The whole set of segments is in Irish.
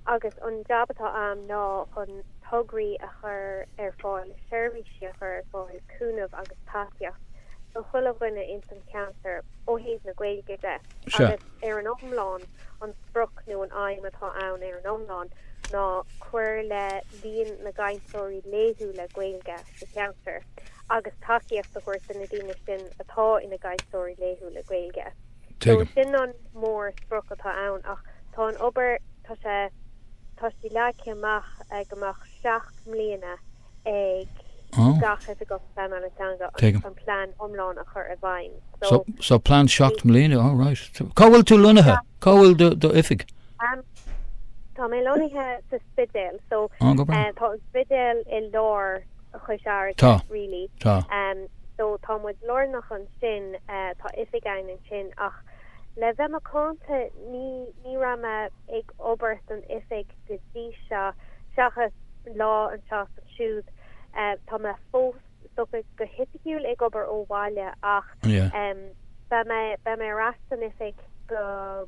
Agus an jab atá a'am ná chun tograí a chur ar fáil, seirbhísí a chur ar fáil, cúnamh agus tacaíocht do chuile dhuine ins an cheantair ó thaobh na Gaeilge de. Agus ar an iomlán, an sprioc nó an aidhm atá ann ar an iomlán ná cur le líon na gcainteoirí laethúla Gaeilge sa cheantar agus tacaíocht a thabhairt do na daoine sin atá ina gcainteoirí laethúla Gaeilge. So sin an mór sprioc atá ann ach tá an obair, tá sé, tá sí leagtha amach ag amach seacht mbliana ag gach Oifigeach Pleanála teanga an plean iomlán a chur i bhfeidhm. So, so plean seacht mbliana, all right. Cá bhfuil tú lonnaithe? Cá bhfuil do, do oifig? Um, tá mé lonnaithe sa Spidéal, so, tá an Spidéal i lár Chois Fharraige, really. Tá, tá. So tá muid lárnach ansin, tá oifig ann ansin, ach le bheith macánta, ní, ní raibh mé ag obair san oifig go dtí seo, seachas lá anseo is ansiúd. Tá mé fós, socair go hoifigiúil, ag obair ó bhaile, ach, beidh mé, beidh mé ar ais san oifig go.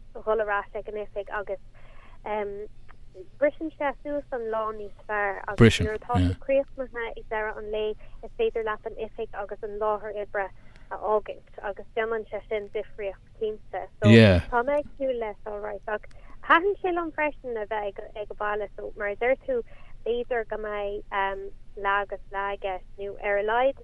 dhul ar ais ag an oifig agus briseann sé suas an lá níos fearr agus nuair atá tú críochnaithe ag deireadh an lae is féidir leat an oifig agus an láthair oibre a fhágaint agus déanann sé sin difríocht cinnte. So tá mé ag súil leis all right ach taithníonn sé liom freisin a bheith ag an mbaile so mar a deir tú b'fhéidir go mbeidh leath agus leath aige nó ar a laghad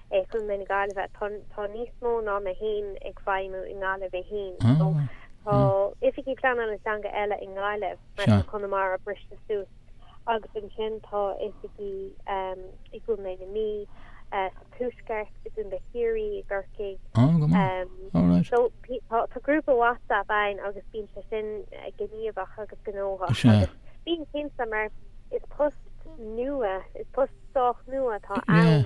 Chontae na Gaillimhe. Tá tá níos mó ná mé fhéin ag feidhmiú i nGaillimh í fhéin. So, tá oifigigh pleanála teanga eile i nGaillimh, mar tá Conamara briste suas. Agus ansin tá oifigigh i gContae na Mí, sa Tuaisceart, i gContae Chiarraí, i gCorcaigh. So, tá tá grúpa WhatsApp ann agus bíonn sé sin gníomhach agus gnóthach. Bíonn cinnte mar is post nua, is post sách nua atá ann.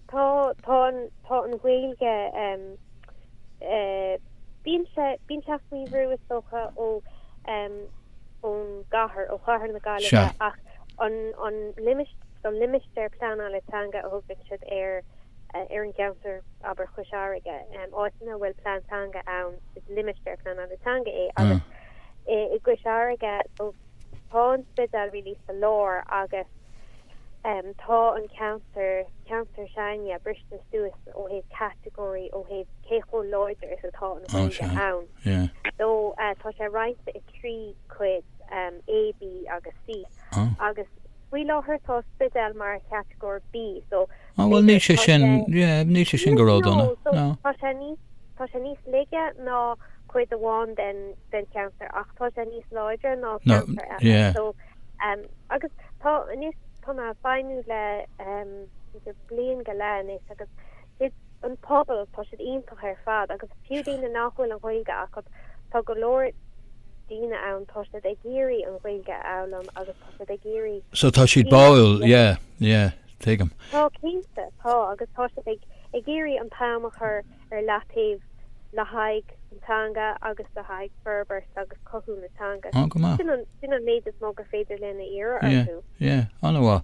Tá, tá an, tá an Ghaeilge, em, eh, bíonn sé, bíonn sé faoi bhrú, is dócha, ó, em, ón gcathair, ó chathair na Gaillimhe, Sea. ach an, an limistéar, an limistéar pleanála teanga a thugann siad ar, eh, ar an gceantar, abair, Chois Fharraige, em, áit ina bhfuil plean teanga ann, is limistéar pleanála teanga é, agus, eh, i gCois Fharraige, Tá an Spidéal really sa lár agus tá an ceantar, ceantar sin aige, briste suas ó thaobh category, ó thaobh cé chomh láidir is atá an Ghaeilge ann. So tá sé roinnte i trí cuid, A, B agus C agus faoi láthair tá Spidéal mar category B so Á bhuel níl sé sin, níl sé sin go ródhona, ná. Tá sé níos, tá sé níos laige ná cuid amháin den, den cheantar ach tá sé níos láidre ná ceantair eile. Ná, yeah. So, agus tá, anois tá mé ag feidhmiú le, b'fhéidir bliain go leith anois agus an pobal, tá siad iontach ar fad agus fiú daoine nach bhfuil an Ghaeilge acu, tá go leor daoine ann, tá siad ag iarraidh an Ghaeilge a fhoghlaim agus tá siad ag iarraidh. So tá siad báúil, yeah, yeah. Tuigim. Tá, cinnte, tá, agus tá siad ag ag iarraidh an t-am a chur ar leataobh le haghaidh an teanga agus le haghaidh forbairt agus cothú na teanga. Oh, go maith. Sin an sin an méid is mó gur féidir linn a iarraidh orthu. Yeah, yeah, an-mhaith.